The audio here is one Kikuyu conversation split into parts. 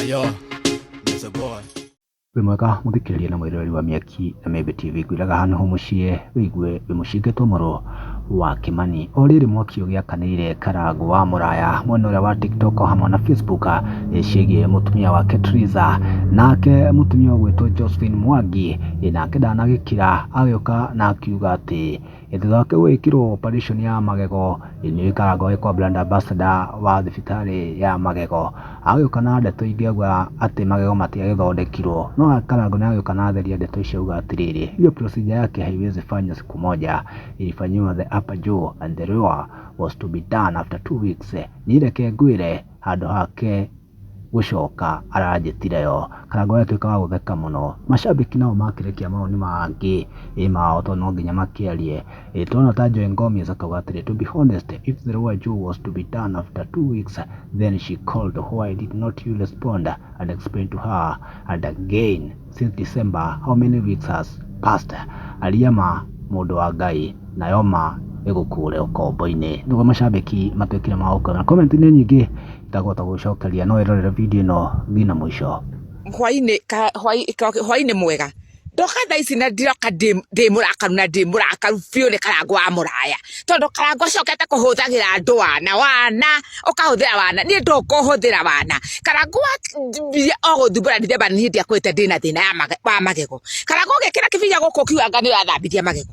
Ayo, there's a boy. wĩ mwega mũthikĩrĩria na mwĩroreri wa mĩaki na mĩmbĩ tv ngwĩraga hano ho mũciĩ wĩigue wĩ mũcinge tomoro wa kimani o rĩrĩ mwaki ũgĩakanĩire karango wa mũraya mwena ũrĩa wa tiktok o hamwe na facebook eh, ciĩgiĩ mũtumia wake triza nake mũtumia ũgwĩtwo josephine mwangi eh, nake ndanagĩkira agĩũka na akiuga atĩ Thutha wake gwĩkĩrwo operation ya magego, nĩ aikaraga agĩkwo brand ambassador wa thibitarĩ ya magego. Agagĩũka na ndeto ingĩ auga atĩ magego matiagĩthondekirwo, no akarangwo nĩ agĩũka na atheria ndeto icio auga atĩrĩrĩ, hiyo procedure yake haiwezi fanywa siku moja, ilifanyiwa the upper jaw and the lower was to be done after two weeks. Niĩ reke ngwĩre handũ hake gũcoka aranjĩtire yo, kana ngagĩtuĩka wa gũtheka mũno. Macambĩki nao makĩrekia mawoni mangĩ mao tondũ no nginya makĩarie. Twana ta Joy Ngomis akauga atĩrĩ, To be honest, if the Rua Joe was to be done after two weeks, then she called why did not you respond and explain to her and again since December how many weeks has passed. Aria ma mũndũ wa Ngai nayo ma ĩgũkũre ũkombo-inĩ. Nĩguo macambĩki matuĩkire ma gũkũrana. Comment nĩ nyingĩ. Ndagũhota gũgũcokeria no wĩrorere video ĩno nginya mũico. hwainĩ ka- hwai- ka- hwainĩ mwega ndoka thaa ici na ndiroka ndĩ ndĩ mũrakaru na ndĩ mũrakaru biũ nĩ karango wa mũraya tondũ karango ũcokete kũhũthagĩra andũ wana wana ũkahũthĩra wana niĩ ndũkũhũthĩra wana karango wambia o gũthumbũra ndithemba nĩ hĩndĩ akũĩte ndĩna thĩna ya mage- wa magego karango ũgĩkĩra kĩbinya gũkũ ũkiuganga nĩ ũrathambithia magego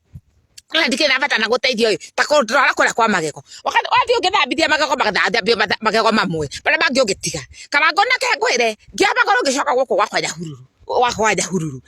kana ndikire na bata na guteithio ri ta ko ndora kora kwa magego wakati wathi ungithambithia magego magathambio magego mamwe bara bangi ungitiga kana ngona ke ngwire ngia magoro ngicoka guku gwa kwanya hururu gwa kwanya hururu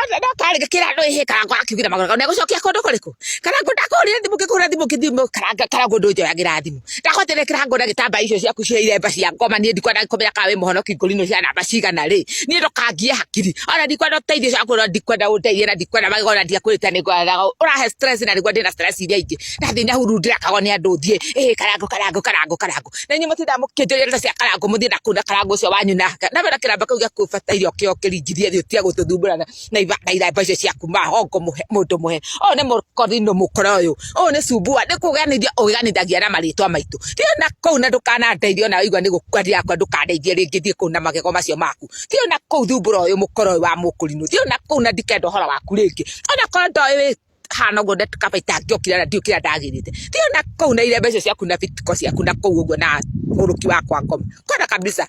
ona no kari ngikira ndo ihe kana ngwa akiugira magoro ne gucokia kundu kuriku kana ngunda kurire thimu ngikura thimu ngithimu kana kana ngundu njoyagira thimu ndakotere kirango na gitamba icio ciaku cia iremba cia ngoma nie ndikwa ndakomera ka we muhonoki ngori no cia namba cigana ri nie ndokangie hakiri ona ndikwa ndo teithio ciaku no ndikwa nda uteithie na ndikwa na magego na ndiakwirite ni ngwara urahe stress na ndigwa ndina stress iria ingi na thina huru ndirakago ni andu thie eh karango karango karango karango na nyu mutinda mukinjire na cia karango muthie na kuna karango cio wanyu na na wera kiramba kau gya kubata irio kio kiringirie thio tia gututhumbura na ibanga ira mbeca ciaku mahongo muhe mundu muhe o ni mukorino mukora uyu o ni cumbua ni kuganithia uganithagia na maritwa maitu ti ona kuu na ndukanandeithia ona igua ni gukua ndirakua ndukandeithia ringi thie kuu na magego macio maku ti ona kuu thumbura uyu mukora uyu wa mukurino ti ona kuu na ndikenda uhoro waku ringi ona korwo ndoĩ hana uguo ndakaba itangĩokire na ndiokire ndagirite ti ona kuu na ire mbeca ciaku na bitiko ciaku na kuu uguo na muruki wakwa ngoma kwenda kabisa